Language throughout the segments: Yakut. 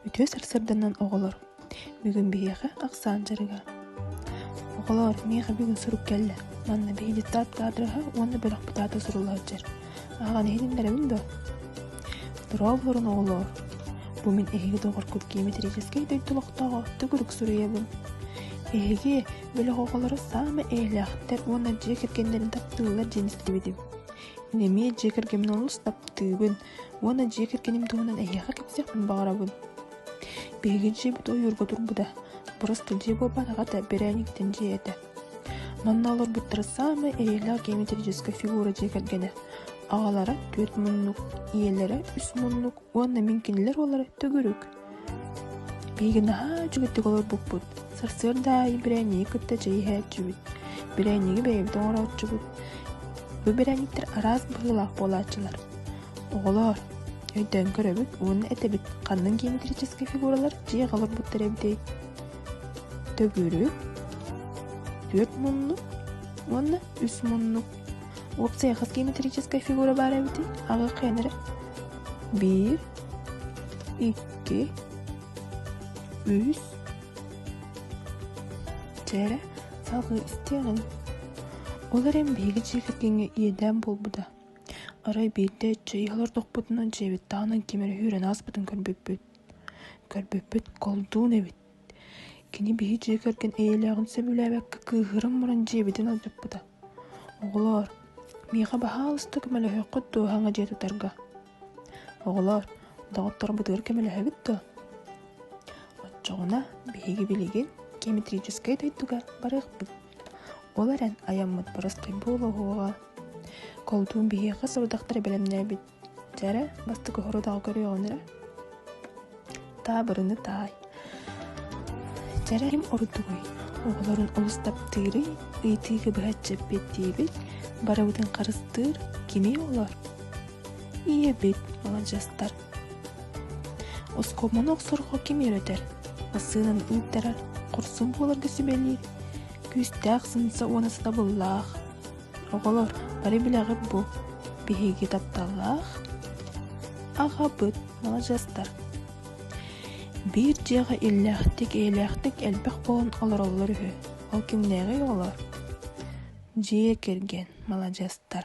Үтүө сарсыарданан оҕолор, бүгүн биһиэхэ ахсаан дьарыга. Оҕолоор, миэхэ бүгүн сурук кэллэ. Манна биһиги тааттаадыраһа уонна бөлөх бытаата сурулааччы. Ааҕан иһитиннэрэбин дуо? Дорооболорун оҕолоор! Бу мин эһиги доҕоргут геометрическэй дойду олохтооҕо төгүрүк суруйабын. Эһиги бөлөх оҕолоро саамай эйэлээхтэр уонна дьиэ кэргэннэрин таптыыллар диэн истибитим. Ини эмиэ дьиэ кэргэмин олус таптыыбын, Уонна дьиэ кэргэним туһунан эһиэхэ кэпсиэхпин баҕарабын. Биһиги дьиэбит ойуурга турбута. Бырастыы дьиэ буолбатаҕа да, бэрээниктэн дьиэ этэ. Манна олорбуттара саамай эйэлээх геометрическая фигура дьиэ кэргэнэ. Аҕалара түөрт муннук, ийэлэрэ үс муннук уонна мин кинилэр уоллара төгүрүк. Миигин наһаа үчүгэйдик олорбуппут. Сарсыарда аайы бэрээнньиги кытта чэй иһээччибит. Бэрээнньиги бэйэбит оҥорооччубут. Бу бэрээнньиктэр араас быһыылаах буолааччылар. Оҕолоор, өйдөөн көрөбүт уонна этэбит ханнык геометрическай фигуралар дьиэҕэ олорбуттар эбитэй. Төгүрүк, түөрт муннук уонна үс муннук. Уопсайа хас геометрическай фигура баар эбитий? Аҕа хайан эрэ биир, икки, үс, дьэ, салгыы истиэҕиҥ. Ол эрэн биһиги дьиэкэргэҥҥэ иэдээн буолбута. Арай биирдэ дьиэ олордохпутуна дьиэбит таһынан кимэр үһүрэн ааспытын көрбүппүт. Көрбүппүт колдуун эбит. Кини биһи дьиэ кэргэн эйэлээҕин сөбүлээбэккэ кыыһыран муран дьиэбитин алдьаппыта. Оҕолоор, миэхэ баһаалыста көмөлөһүөххүт дуо саҥа дьиэ тутарга? Оҕолоор, доҕотторбутугар көмөлөһөбүт дуо? Оччоҕуна биһиги билигин геометрическай дойдуга барыахпыт. Ол эрэн айаммыт бырастыы буолуоҕа. Колдуун биһиэхэ сорудахтары бэлэмнээбит Дьэ эрэ, бастык оһорудаҕы көрүөҕүн эрэ. Таабырыны таай. Дьэрэ ким ордугуй? Оҕолорун олус таптыырый, ыйытыыга быһа дьэппиэт диэбит, барыбытын харыстыыр кимий олор? Ийэбит, маладьыастар. Оскуоманы охсорго ким үөрэтэр? Массыынаны ыыттарар, хорсун буоларга сүбэлиир. Күүстээх сымса уона сатабыллаах. Оҕолор бары билэҕит бу биһиги тапталлаах аҕабыт маладьыастар биир дьиэҕэ иллээхтик эйэлээхтик элбэх буолан олороллор үһү ол кимнээҕий оҕолор дьиэ кэргэн маладьыастар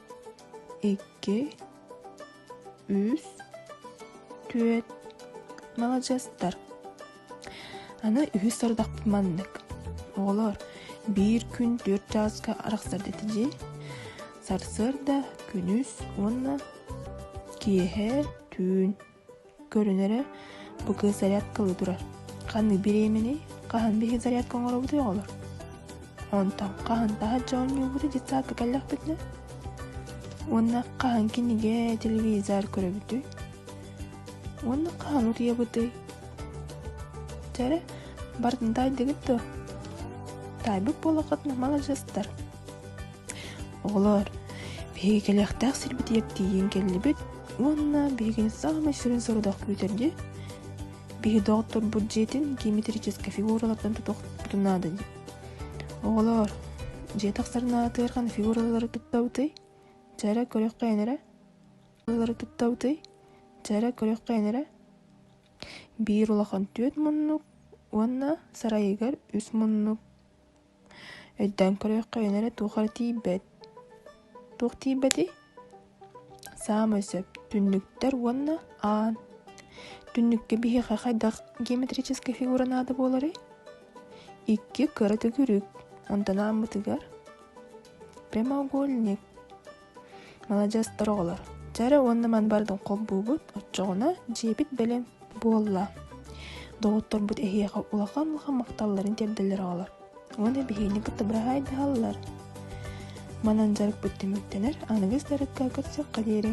икки үс түөрт маладьыастар аны үһүс сорудахпыт маннык оҕолор биир күн түөрт чааска арахсар дэти дии сарсыарда күнүс уонна киэһэ түүн Көрүнэрэ, бу кыыс зарядка ылыы турар. Ханнык бириэмэний? Хаһан биһиги зарядка оҥоробутуй, оҕолор? Онтон хаһан таһат дьоонньуубуту детсадка кэллэхпитинэ? Уонна хаһан кинигэ, телевизор көрөбүтүй? Уонна хаһан утуйабытый? Дьэрэ, бартын таайдыгыт дуо? Таайбыт буолаххытына маладьыстар. Оҕолоор, биһиги кэлиэхтээх сирбитигэр тиийэн кэллибит уонна биһигини саамай сүрүн сорук күүтэрдии биһи доҕотторбут дьиэтин геометрическай фигуралартан тутуохпутун наада дии. Оҕолоор, дьиэ тахсарын аатыгар фигуралары туттабытый? Дьэрэ көрүөххэйин эрэ. Фигуралары туттабытый? Дьэрэ көрүөххэйин эрэ. Биир улахан түөрт муннук уонна сарайыгар үс муннук Өйдөөн көрүөххэ эн эрэ туох эрэ тиийбэт. Туох тиийбэтий? Саамай сөп. Түннүктэр уонна аан. Түннүккэ биһиэхэ хайдах геометрическай фигура наада буоларый? Икки кыра төгүрүк. Онтон ааммытыгар прямоугольник. Маладьыастар оҕолор, дьэ уонна ман бардым холбуубут, оччоҕуна дьиэбит бэлэм буолла. Доҕотторбут эһиэхэ улахан улахан махталларын тиэрдэллэр оҕолор. Уонна биһигини кытта быраһаайдаһаллар. Манан дьарыкпыт түмүктэнэр, аныгыс дьарыкка көрсүөххэ диэри.